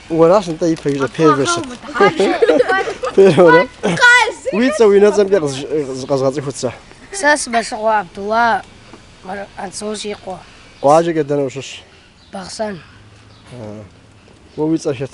Уэращ нтӏэ и пэжыр первэщ. Первэ. Уи цӏэ уи унэцӏэмкӏэ зыкъэзгъэцӏыхут сэ. Сэ сымэлъыгъуэ Абдулла Анзор срикъуэ. Къуаджэкӏэ дэнэ ущыщ? Бахъсэн. Уэ уи цӏэ хэт?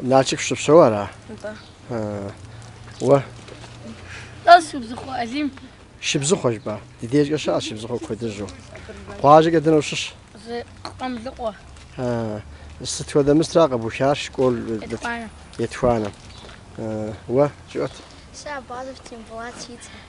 Налшык щыпсэу ара? Нтӏэ. Уэ? Нтӏэ, Шыбзыхъуэ Алим. Шыбзыхъуэ жыпӏа? Ди дежкӏэ щыӏэщ Шыбзыхъуэ куэдыжьу. Къуажэкӏэ дэнэ ущыщ? Къамлыкъуэ. Сыт хуэдэ мыстра къыбухар школ? Етхуанэ. Етхуанэ. Уэ жыӏэт. Сэ Абазов Тембулат си цӏэ.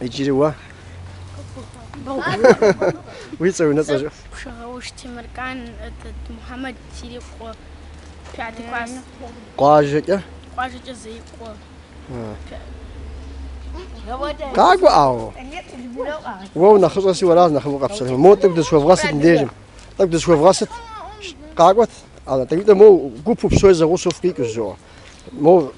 Иджыри уэ? Уи цӏэ, уи унэцӏэ жыӏэ. Пшыгъэуш Темыркан, Мухьэмэд срикъуэ. Пятый класс. Къуажэкӏэ? Къуажэкӏэ Зеикъуэ. Къакӏуэ ӏауэ. Уэ унэхъыщӏэщи уэращ нэхъыфӏу къэпсэлъэну. Мо тӏэкӏу дызыхуэвгъэсыт мыбдежым. Тӏэкӏу дызыхуэвгъэсыт. Къакӏуэт. Тӏэкӏуитӏэ мо гупу псори зэгъусэу фыкъикӏущ жыӏуэ. Мо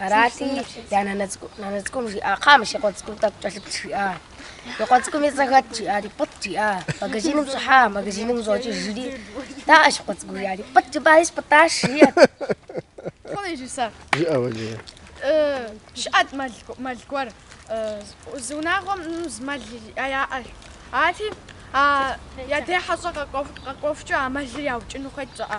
Арати, я нанэ цӏыкӏу, нанэ цӏыкӏум жиӏа, кхъа мы си къуэ цӏыкӏум тӏэкӏу кӏэлъыплъ, жиӏа. И къуэ цӏыкӏум и цӏэ хэт, жиӏари, пӏытӏ, жиӏа. Магазиным щӏыхьа, магазиным щӏокӏыжри. Даӏэ си къуэ цӏыкӏу, жиӏари, пӏытӏ, жыпӏари спӏытӏащ, жиӏэрт. Жиӏэ Валерэ. Щыӏэт мэл, мэл гуэр. Зы унагъуэм зы мэл яӏэщ. Арати, я дей хьэщӏэ къэкӏуэху, къэкӏуэхукӏэ а мэлыр яукӏыну хуейт жиӏэ.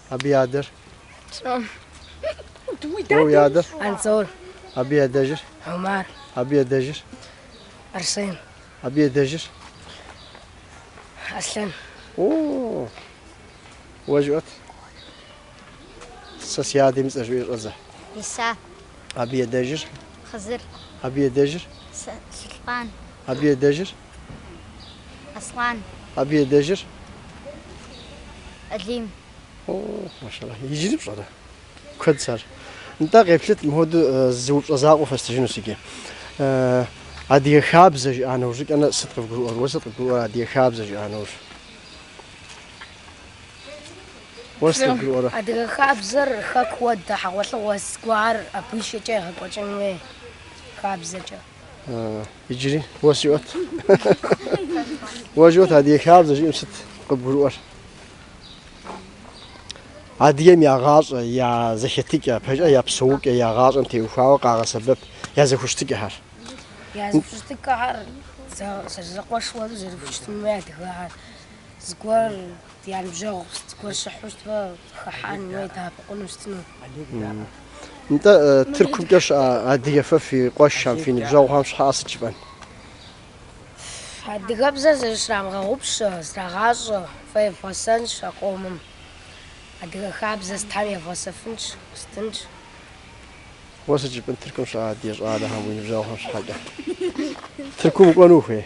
Абы и адэр? Уэ уи адэр? Анзор. Абы и адэжыр? Омар. Абы и адэжыр? Арсен. Абы и адэжыр? Аслъэн. О, уэ жыӏэт. Сэ си адэм и цӏэ жыӏуи щӏэдзэ. Иса. Абы и адэжыр? Хъызыр. Абы и адэжыр? Сэ, Сулътӏан. Абы и адэжыр? Аслъан. Абы и адэжыр? Алим. О, машаллах, иджыри пщӏэрэ? Куэдщ ар. Нтӏэ, къеплъыт, мыхуэду э, зы упщӏэ закъуэ фэстыжынущ иджы. Э, Адыгэ хабзэ жиӏа нэужькӏэнэ сыт къывгурыӏуэр? Уэ сыт къыбгурыӏуэр адыгэ хабзэ жиӏа нэужь? Адыгэ хабзэр хэку уэдэ, хьэгъуэлӏыгъуэ зыгуэр абы и шэкӏэ егъэкӏуэкӏын хуей хабзэкӏэ. Иджыри уэ жыӏуэт. Уэ жыӏуэт адыгэ хабзэ жиӏэм сыт къыбгурыӏуэр? Адыгэм я гъащӏэ, я зэхэтыкӏэ, пэкӏэ я псэукӏэ, я гъащӏэм теухуауэ къагъэсэбэп я зэхущытыкӏэхэр. Я зэхущытыкӏэхэр зэрызэкъуэшу зэрыхущытын хуей адыгэхэр. Зыгуэр я ныбжьэгъу зыгуэр щыхьу щытмэ, хыхьэн икӏи дэӏэпыкъуну щытыну. Нтӏэ, Тыркумкӏэ щыӏэ адыгэ фи къуэшхэм, фи ныбжьэгъухэм щхьэкӏэ сыт жыпӏэн? Адыгэбзэр зыщрамыгъэгъупщэ, зрырагъащӏэ, фэ фесэнщ а къомым. Адыгэ хабзэ сытхэм евгъэсэфынщ, сытынщ. Уэ сыт жыпӏэн Тыркум щыӏэ адыгэ щӏалэхэм уи ныбжьэгъухэм щхьэкӏэ? Тыркум укӏуэну ухуей?